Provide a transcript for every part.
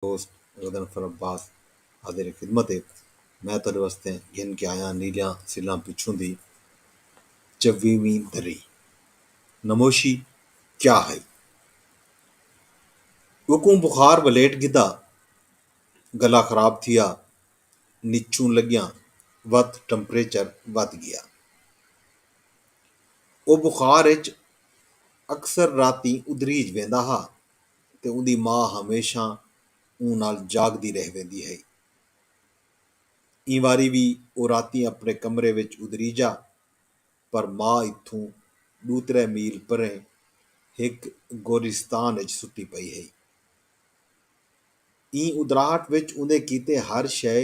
دوست غضنفر عباس حاضر خدمت ہے میں تہاݙے واسطے گھن کے آیاں نیلیاں سلاں پچھوں دی چویہویں دری نموشی کیا ہئی اوکوں بخار ولیٹ گھدا گلا خراب تھیا نچھوں لڳیاں وت ٹمپریچر ودھ ڳیا او بخار اچ اکثر راتی ادھریج ویندا ہا تے اوندی ماء ہمیشاں اوں نال جاگدی رہ ویندی ہئی۔ ایں واری وی او راتیں اپݨے کمرے وچ ادریجا پر ماء اتھوں ݙو ترے میل پریں ہک گورستان وچ ستی پئی ہئی۔ ایں ادراہٹ وچ اوندے کیتے ہر شئے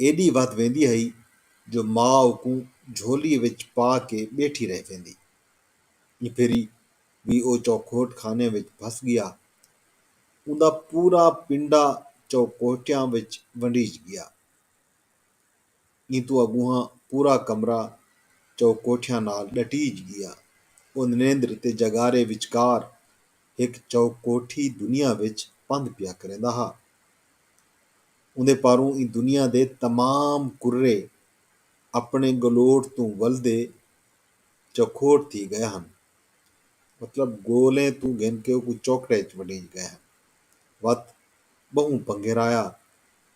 ایݙی ودھ ویندی ہئی جو ماء اوکوں جھولی وچ پا کے ٻیٹھی رہ ویندی۔ ایں بھیری وی او چوکوٹ خانے وچ بھس ڳیا۔ اوندا پورا پنڈا چوکوٹیاں وچ ونڈیج ڳیا۔ ایں توں اڳوہاں پورا کمرہ چئو کوٹھیاں نال ڈٹیج گیا۔ او نریندر تے جگارے وچکار ہک چئو کوٹھی دنیا وچ پندھ پیا کریندا ہا۔ اوندے پاروں ایں دنیا دے تمام کرے اپݨے ڳلوٹ توں ولدے چوکھوٹ تھی ڳئے ہن۔ مطلب ڳولیں توں گھن کے او کوئی چوکھڑے اچ ونڈیج ڳئے ہن۔ وت ٻہوں پنگھیرایا۔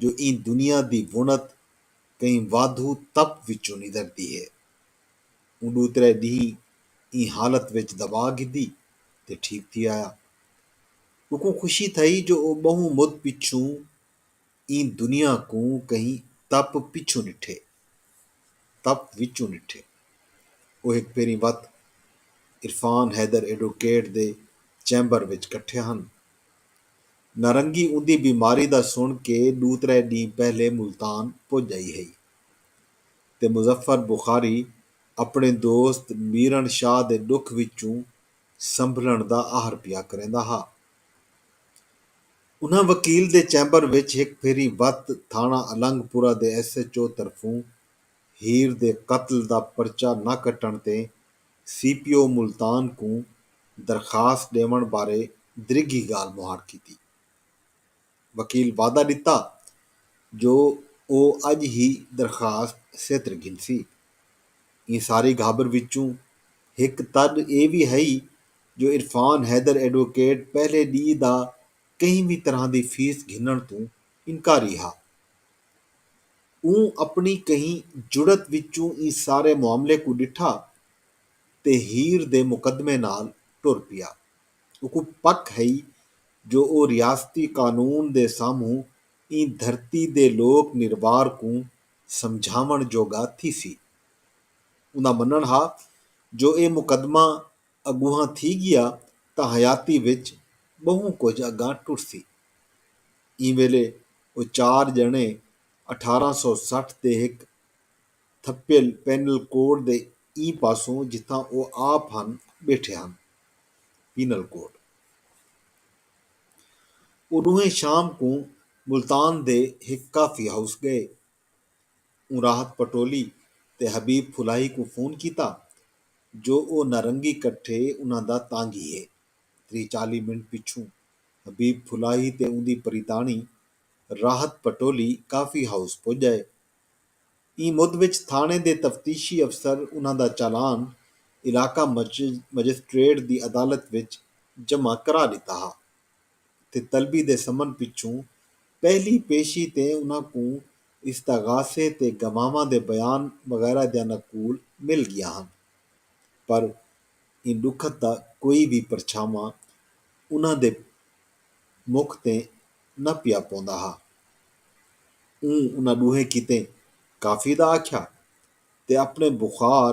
جو ایں دنیا دی وݨت کہیں وادھو تپ وچوں ندردی ہے۔ اوں ݙو ترے ݙینہہ ایں حالت وچ دوا گھدی تے ٹھیک تھی آیا۔ اوکوں خوشی تھئی جو او ٻہوں مد پچھوں ایں دنیا کوں کہیں تپ پچھوں ݙٹھے۔ تپ وچوں ݙٹھے۔ او ہک بھیری وت عرفان حیدر ایڈوکیٹ دے چیمبر وچ کٹھے ہن۔ نارنگی اوندی بیماری دا سݨ کے ݙو ترے ݙینھ پہلے ملتان پڄ آئی ہئی تے مظفر بخاری اپݨے دوست میرݨ شاہ دے ݙکھ وچوں سنبھلݨ دا آہر پیا کریندا ہا۔ انہاں وکیل دے چیمبر وچ ہک پھیری وت تھاݨہ النگ پورہ دے ایس ایچ او طرفوں ہیر دے قتل دا پرچہ نہ کٹݨ تے سی پی او ملتان کوں درخواست ݙیوݨ بارے دریگھی ڳالھ مہاڑ کیتی۔ وکیل وعدہ ݙتا جو او اڄ ہی درخواست سیتر گھنسی۔ ایں ساری گھابر وچوں ہک تݙ اے وی ہئی جو عرفان حیدر ایڈووکیٹ پہلے ݙینہہ دا کہیں وی طرح دی فیس گھنݨ توں انکاری ہا۔ اوں اپݨی کہیں جرات وچوں ایں سارے معاملے کوں ݙٹھا تے ہیر دے مقدمے نال ٹر پیا۔ اوکوں پک ہئی جو او ریاستی قانون دے سامہوں ایں دھرتی دے لوک نروار کوں سمجھاوݨ جوڳا تھیسی۔ اوندا منݨ ہا جو اے مقدمہ اڳونہاں تھی ڳیا تاں حیاتی وچ ٻہوں کجھ اڳاں ٹرسی۔ ایں ویلے او چار ڄݨے اٹھارہ سو سٹھ دے ہک تھپیل پینل کوڈ دے ایں پاسوں جتھاں او آپ ہن ٻیٹھے ہن۔ Penal code. او ݙوہیں شام کوں ملتان دے ہک کافی ہاؤس ڳئے۔ اوں راحت پٹولی تے حبیب پھلاہی کوں فون کیتا جو او نارنگی کٹھے انہاں دا تانگھی ہے۔ تریہہ چالیہہ منٹ پچھوں حبیب پھلاہی تے اوندی پریتاݨی راحت پٹولی کافی ہاؤس پڄ ڳئے۔ ایں مد وچ تھاݨے دے تفتیشی افسر انہاں دا چالان علاقہ مجسٹریٹ دی عدالت وچ جمع کرا ݙتا ہا۔ تے طلبی دے سمن پچھوں پہلی پیشی تے انہاں کوں استغاثے تے گواہواں دے بیان وغیرہ دیاں نقول مل گیاں ہن پر ایں ڈکھت دا کوئی وی پرچھاواں انہاں دے مکھ تے نہ پیا پوندا ہا۔ اوں انہاں ڈوہیں کیتے کافی دا آکھیا تے اپنے بخار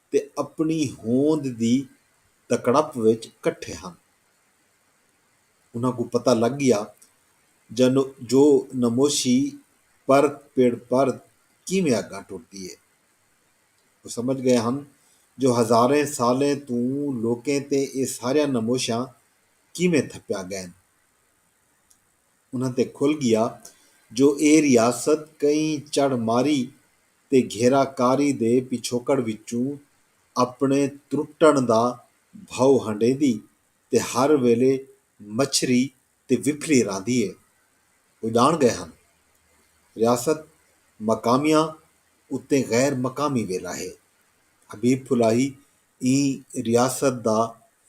تے اپݨی ہوند دی تکڑپ وچ کٹھے ہن۔ انہاں کوں پتہ لڳ ڳیا جو نموشی پر پڑ پر کیویں اڳاں ٹردی اے۔ او سمجھ ڳئے ہن جو ہزاریں سالیں توں لوکیں تے اے ساریاں نموشاں کیویں تھپیا ڳئن۔ انہاں تے کھل ڳیا جو ایہ ریاست کہیں چڑھ ماری تے گھیرا کاری دے پچھوکڑ وچوں اپݨے ترٹݨ دا بھئو ہنڈیندی تے ہر ویلے مچھری تے وپھلی رہندی اے۔ او ڄاݨ ڳئے ہن ریاست مقامیاں اتے غیر مقامی ویلا ہے۔ حبیب پھلاہی ایں ریاست دا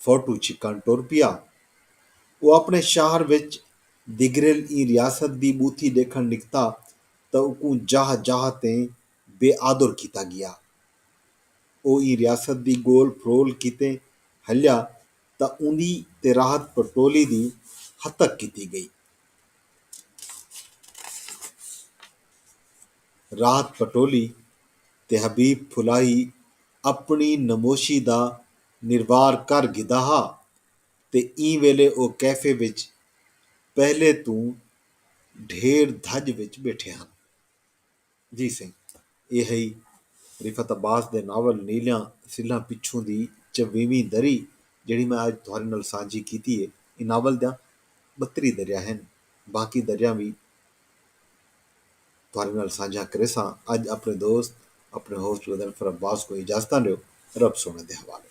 فوٹو چھکݨ ٹر پیا۔ او اپݨے شاہر وچ دگریل ایں ریاست دی ٻوتھی ݙیکھݨ نکتا تاں اوکوں جاہ جاہ تے بے آدر کیتا ڳیا۔ او ایں ریاست دی ڳول پھرول کیتے ہلیا تاں اوندی تے راحت پٹولی دی ہتک کیتی ڳئی۔ راحت پٹولی تے حبیب پھلاہی اپݨی نموشی دا نروار کر گھدا ہا تے ایں ویلے او کیفے وچ پہلے توں ڈھیر دھڄ وچ ٻیٹھے ہن۔ جی سئیں اے ہئی رفعت عباس دے ناول نیلیاں سلھاں پچھوں دی چویہویں دری جیڑھی میں اڄ تہاݙے نال سانجھی کیتی اے۔ ایں ناول دیاں ٻتریہہ دریاں ہن باقی دریاں وی۔ تہاݙے نال سانجھا کریساں اڄ اپݨے دوست اپݨے ہوسٹ غضنفر عباس کوں اجازتاں ݙیو رب سوہݨے دے حوالے۔